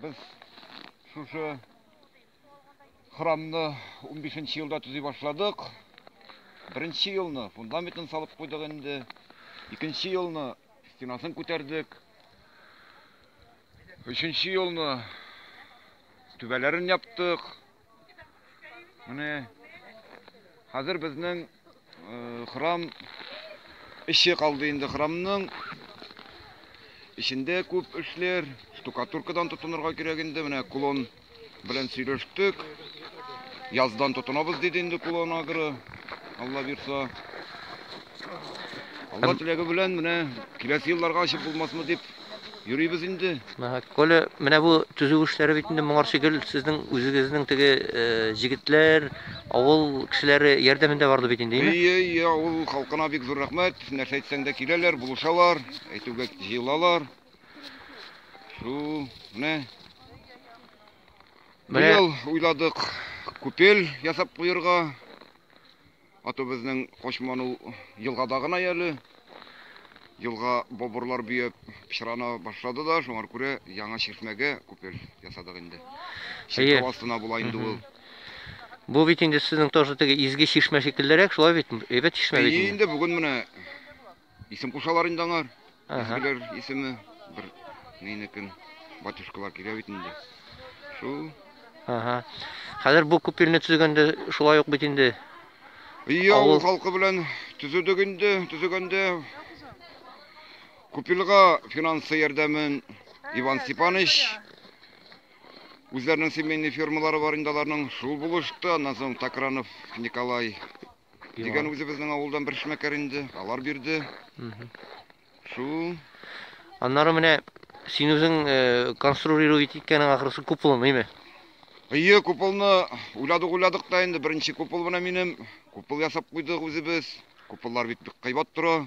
Без шушы храмны унбишенче елда төзи башладык. Беренче елны фундаментын салып куйдык инде. Икенче елны стенасын күтәрдек. Өченче елны түбәләрен яптык. Менә хәзер безнең э, храм эче калды инде храмның эчендә күп эшләр штукатуркадан тотынырга кирәк инде менә кулон белән сөйләштек яздан тотынабыз диде инде кулон агро алла бирса Алла теләге белән менә киләсе елларга ачып булмасмы дип йөрибез инде. Коля, менә бу төзү эшләре бит инде моңарчы гел сезнең үзегезнең теге э, җегетләр, авыл кешеләре ярдәмендә барды бит инде, әйме? Әйе, әйе, авыл халкына бик зур рәхмәт. Нәрсә әйтсәң дә киләләр, булышалар, әйтүгә җыелалар. Шу, менә Менә- быел уйладык күпел ясап куерга. Атубезнең качман ул елгада гына яле. Елга бобырлар бөяп пычрана башлады да, шуңар күрә яңа чишмәгә күпел ясадык инде. Әйе. Чиркәү астына була инде ул. Бу бит инде сезнең тоже теге изге чишмә шикеллерәк, шулай бит? Әйбәт чишмә бит Әйе инде. инде, бүген менә Исем кушалар инде аңар. Изгеләр исеме бер нинекен батюшкалар килә бит инде. Шул. Ага. Хәзер бу күпилне төзегәндә шулай ук бит инде. Ия, авыл халкы белән төзедек инде, төзегәндә күпилга финансы ярдәмен Иван Степанович үзләренең семейный фермалары бар инде аларның шул булышты. Аннан соң Такранов Николай Дигән үзебезнең авылдан бер шмәкәр инде, алар бирде. Шул. Аннары менә син үзең э, конструировать иткәнең ахрысы куполын, әйме? Әйе, куполны уйладык, уйладык та инде беренче купол менә минем. Купол ясап куйдык үзебез. Куполлар бит бик кыйбат тора.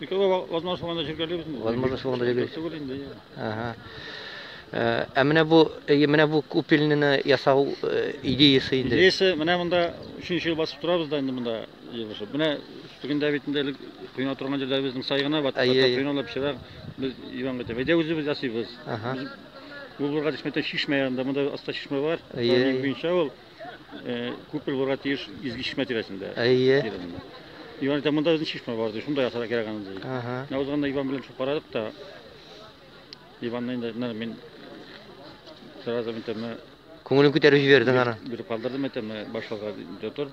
Возможно, шуңа да җиргәлибез. Возможно, шуңа да җиргәлибез. Түгел инде. Ага. Э, ә менә бу э, менә бу купельныйны ясау э, идеясы инде. Идеясы менә монда 3 ел басып торабыз да инде монда елышып. Менә түгендә бит инде элек кыйна торган җирдә безнең сайгына бат. Кыйналып чирак без иван гыта. Әйдә үзебез ясыйбыз. Ага. Бу булга дисмәтә чишмә янында монда аста чишмә бар. Иван буенча ул. Э, күпер булырга тиеш изге чишмә тирәсендә. Әйе. Тирәсендә. Иван әйтә, монда безнең чишмә бар, ди, шунда ясарга кирәк аны, ди. Ага. Менә узганда Иван белән шуып карадык та, Иванны инде, менә мин сразу әйтәм, менә Күңелен күтәреп җибәрдең аны. биреп калдырдым, әйтәм, менә башларга өйдә тор,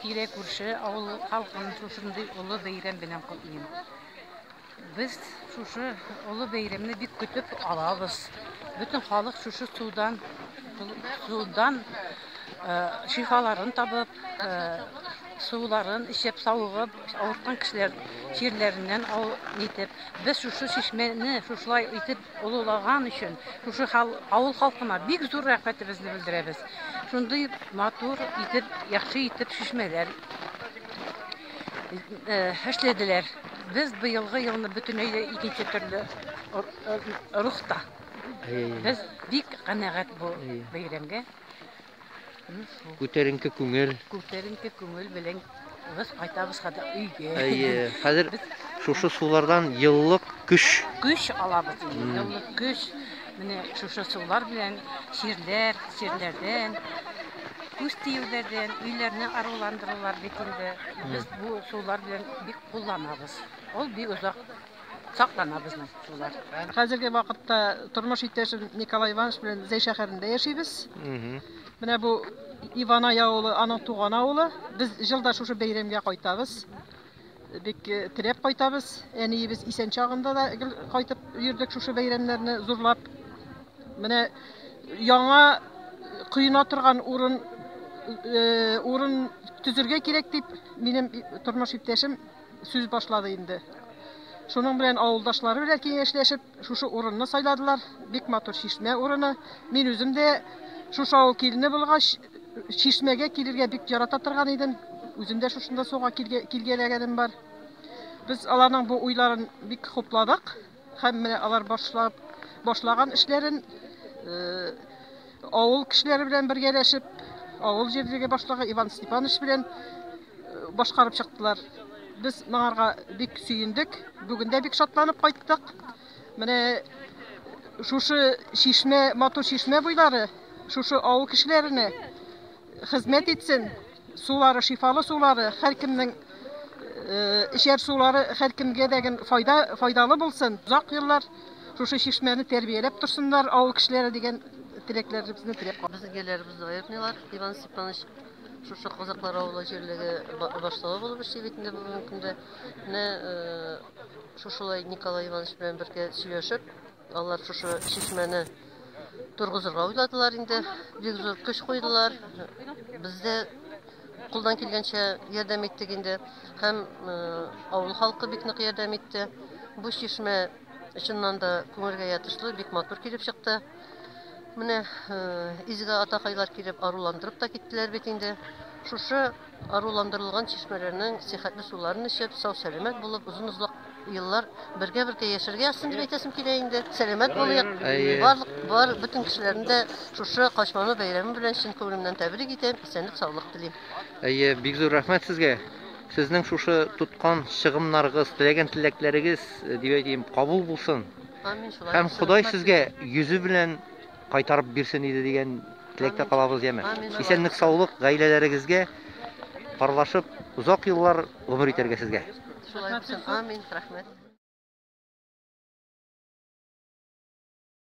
Тирә-күрше авыл халкын шушындый олы бәйрәм белән котлыйм. Без шушы олы бәйрәмне бик көтеп алабыз. Бөтен халык шушы судан судан шифаларын табып, суларын эчеп, савыгып, авырткан кешеләр чирләреннән итеп, без шушы чишмәне шушылай итеп олылаган өчен шушы авыл халкына бик зур рәхмәтебезне белдерәбез. Шундый матур итеп, яхшы итеп шишмәләр эшләделәр. Без быелгы елны бөтенләй дә икенче төрле рухта. Без бик канәгать бу бәйрәмгә. Күтәренке күңел. Күтәренке күңел белән без кайтабыз хәзер өйгә. Әйе, хәзер шушы сулардан еллык көч. Көч алабыз инде, еллык көч. Менә шушы сулар белән чирләр, чирләрдән, күз тиюләрдән өйләрне аруландыралар бит инде. Без бу сулар белән бик кулланабыз. Ул бик озак саклана безнең шулар. Хәзерге вакытта тормыш иптәшем Николай Иванович белән Зәй шәһәрендә яшибез. Менә бу Иванай авылы, аның туган авылы. Без җылда шушы бәйрәмгә кайтабыз. Бик э, теләп кайтабыз. Әниебез исән чагында да гел кайтып йөрдек шушы бәйрәмнәрне зурлап. Менә яңа коена торган урын э, урын төзергә кирәк дип, минем тормыш иптәшем сүз башлады инде. Шуның белән авылдашлары белән киңәшләшеп, шушы урынны сайладылар. Бик матур чишмә урыны. Мин үзем дә шушы авыл килене булгач, чишмәгә килергә бик ярата торган идем. Үзем дә шушында суга килгәләгәнем бар. Без аларның бу уйларын бик хупладык. Һәм менә алар башлап башлаган эшләрен авыл кешеләре белән бергәләшеп, авыл җирлеге башлыгы Иван Степанович белән башкарып чыктылар. Без моңарга бик сөендек. Бүген дә бик шатланып кайттык. Менә шушы чишмә, матур чишмә буйлары шушы авыл кешеләренә хезмәт итсен. Сулары, шифалы сулары, һәркемнең эчәр сулары һәркемгә дә гел файда, файдалы булсын. Озак еллар шушы чишмәне тәрбияләп торсыннар авыл кешеләре дигән теләкләребезне теләп калабыз. Безнең җирләребезне аертмыйлар. Иван Степанович шушы Казаклар авылы җирлеге башлыгы булып эшли бит инде бүгенге көндә. Менә шушылай Николай Иванович белән бергә сөйләшеп, Алар шушы чишмәне торгызырга уйладылар инде. Бик зур көч куйдылар. Без дә кулдан килгәнчә ярдәм иттек инде. Һәм э, авыл халкы бик нык ярдәм итте. Бу чишмә чыннан да күңелгә ятышлы, бик матур килеп чыкты. Менә э, изге атакайлар килеп аруландырып та киттеләр бит инде. Шушы Аруландырылган чишмәләрнең сихәтле суларын эчеп, сау-сәламәт булып, озын-озлак еллар бергә-бергә яшәргә язсын дип әйтәсем килә инде. Сәламәт булыйк. Барлык бар, бөтен кешеләрне дә шушы Качману бәйрәме белән чын күңелемнән тәбрик итәм, исәнлек-саулык телим. Әйе, бик зур рәхмәт сезгә! Сезнең шушы тоткан чыгымнарыгыз, теләгән теләкләрегез, дип әйтим, кабул булсын! Амин, шулай булсын! Һәм Ходай сезгә йөзе белән кайтарып бирсен иде дигән теләктә калабыз, яме. Исәнлек саулык гаиләләрегезгә, парлашып озак еллар гомер итәргә сезгә. Шулай булсын, амин, рәхмәт.